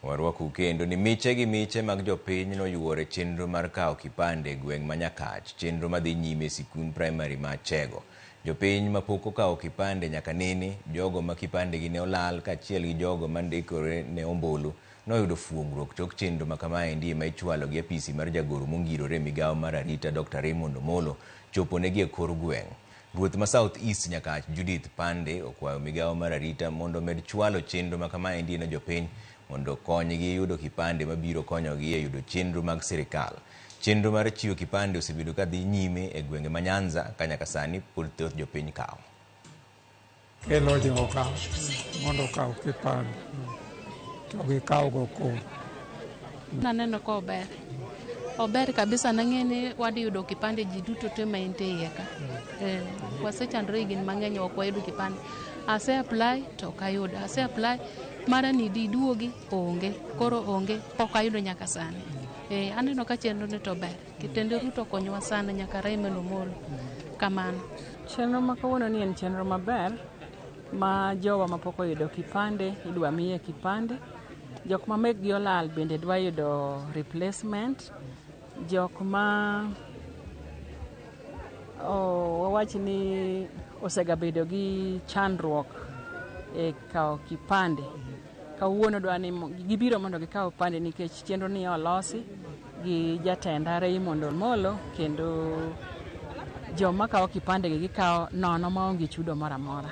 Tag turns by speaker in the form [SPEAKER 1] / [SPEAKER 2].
[SPEAKER 1] Warwakou kendo ni miche gi miche mag jopiny noyuor e chenro mar kawo kipande e gweng' ma Nyakach, chenro madhi nyime e sikund praimari ma Achego. Jopiny ma pok okawo kipande nyaka nene, jogo ma kipandegi ne olal kaachiel gi jogo ma ndikore ne ombulu noyudo fuongruok tok chenro ma kamaendi ema ichwalo gi apisi mar jagoro mongirore e migawo mar arita Dokta Raymond Omolo choponegi e kor gweng'. Ruoth ma South East Nyakach Judith Pande okwayo migawo mar arita mondo omed chwalo chenro ma kamaendi ne jopiny mondo konygi yudo kipande mabiro konyogi e yudo chenro mag sirkal. Chenro mar chiwo kipande osebedo ka dhi nyime e gwenge ma Nyanza ka nyaka sani pod thoth jopiny kawo.
[SPEAKER 2] Kelo joga mondo okaw kipande to gikawgo kodhi.
[SPEAKER 3] Naneno ka ober ober kabisa nang'e ni wadhi yudo kipande ji duto te ma ente iye ka eh, wasechandore higni mang'eny ok wayudo kipande ase apply to ok ayudo ase apply mara ni di duogi onge koro onge ok ayudo nyaka sani eh, aneno ka chenro ni to ber Kitende Ruto konywa sana nyaka Raymond Omolo. Kamano. Chenro ma
[SPEAKER 4] kawuono ni en chenro maber ma jowa mapok oyudo kipande idwa miye kipande. Jok ma mekgi olal bende dwa yudo replacement. Jok ma oh, wawach ni osegabedo gi chandruok e kawo kipande kawuono dwa ni mo- gibiro mondo gikaw kipande nikech chenro ni olosi gi jatend RI mondo Molo kendo joma kawo kipande gi gikawo nono maonge chudo moro amora.